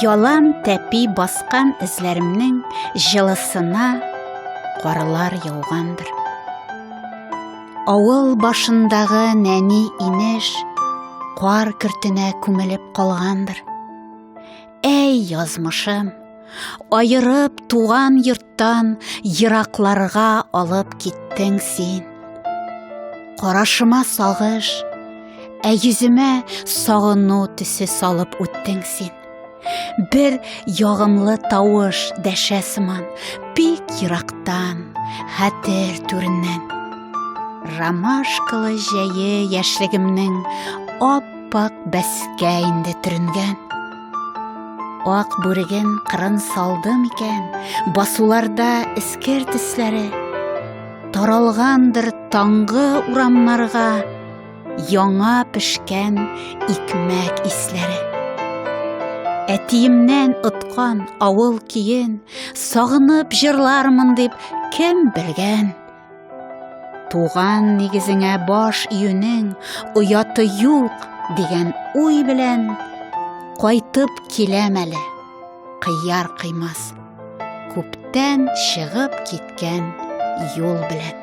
Ялан тәпи баскан эзләремнең җылысына карлар яугандыр. Авыл башындагы нәни инеш кар кертенә күмелеп калгандыр. Әй, язмышым, айырып туган йорттан еракларга алып киттең син. Карашыма сагыш, ә йөземә сагыну төсе салып үттең син. Бер ягымлы тавыш дәшә сыман, бик ерактан, хәтер түреннән. Ромашкалы җәе яшьлегемнең ап Ап-ак бәскә инде төренгән. Ак бүреген кырын салды микән, басуларда эскер тисләре. Таралгандыр таңгы урамнарга яңа пешкән икмәк исләре. Әтиемнән откан авыл киен, сагынып җырлармын дип кем белгән? Туган нигезеңә баш июнең ояты юк дигән уй белән кайтып киләм әле. Кыяр кыймас. Күптән чыгып киткән юл белән.